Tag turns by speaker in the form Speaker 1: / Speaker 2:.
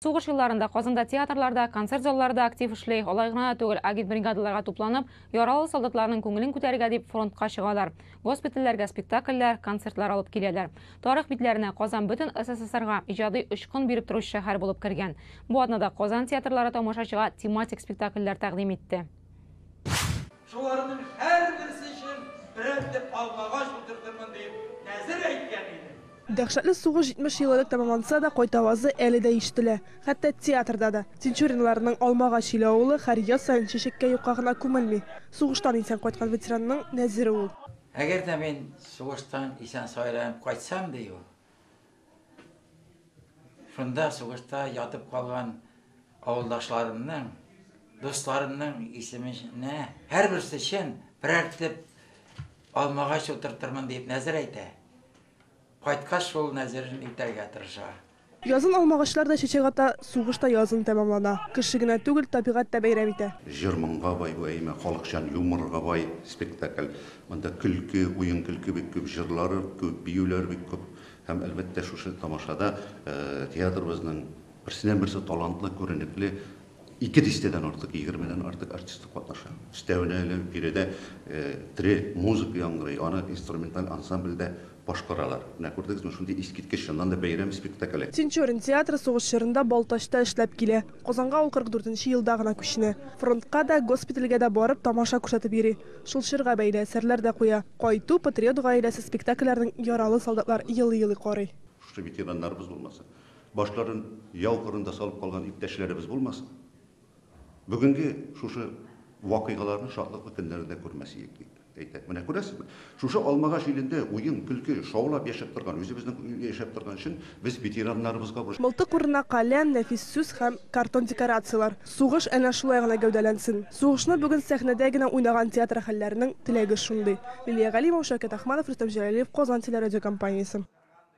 Speaker 1: Сугыш елларында Казанда театрлар да, концерт заллары да актив эшли, алай гына да түгел, агитбригадаларга тупланып, яралы солдатларның күңелен күтәрергә дип фронтка чыгалар. Госпитальләргә спектакльләр, концертлар алып киләләр. Тарих битләренә Казан бөтен СССРга иҗади очкын биреп торучы шәһәр булып кергән. Бу атнада Казан театрлары тамашачыга тематик спектакльләр тәкъдим итте.
Speaker 2: Шуларның һәрберсе өчен берәр төп алмагач утыртырмын дип нәзер әйткән идем. Дәһшәтле сугыш
Speaker 3: 70 ел элек тәмамланса да, кайт авазы әле дә ишетелә. Хәтта театрда да. Тинчуриннарның Алмагач иле авылы һәр яз саен чәчәккә юкка гына күмелми. Сугыштан исән кайткан ветеранның нәзере ул. Әгәр дә мин
Speaker 4: сугыштан исән-саеран кайтсам, ди ул, Шунда сугышта ятып калган авылдашларымның, дусларымның исеменә һәрберсе өчен берәр төп алмагач утыртырмын дип нәзер әйтә. Кайткач шул нәзерен үтәргә тырыша. Язын
Speaker 3: алмагачлар да чәчәк ата, сугыш та язын тәмамлана. Кеше генә түгел, табигать тә бәйрәм итә. Җыр-моңга бай бу
Speaker 5: әйме, халыкчан юморга бай спектакль. Монда көлке, уен-көлке бик күп, җырлары күп, биюләр бик күп. Һәм, әлбәттә, шушы тамашада театрыбызның берсеннән-берсе талантлы, күренекле, ике дистәдән артык, егермедән артык артисты катнаша. Өстәвенә әле биредә тере музыка яңгырый, аны инструменталь ансамбль дә башкаралар. Менә күрдегезме, шундый искиткеч, чыннан да, бәйрәм спектакле. Тинчурин театры
Speaker 3: сугыш чорында Балтачта эшләп килә. Казанга ул 44 нче елда гына күченә. Фронтка да, госпитальгә дә барып, тамаша күрсәтеп йөри. Шул чорга бәйле әсәрләр дә куя. Кайту, Патриот гаиләсе спектакльләренең яралы солдатлар елый-елый карый. Шушы ветераннарыбыз
Speaker 5: булмаса, башларын яу кырында салып калган иптәшләребез булмаса, бүгенге шушы вакыйгаларны шатлыклы көннәрендә күрмәс идек, дип әйтә. Менә күрәсезме, шушы Алмагач илендә уен, көлке, шаулап яшәп торган, үзебезнең яшәп торган чын Без ветераннарыбызга бу. Мылтык урынына каләм,
Speaker 3: нәфис сүз һәм картон декорацияләр. Сугыш әнә шулай гына гәүдәләнсен. Сугышны бүген сәхнәдә генә уйнаган театр әһелләренең теләге шундый. Лилия Галимова, Шәүкәт Ахманов, Рөстәм Җәләлиев, Казан телерадиокомпаниясе.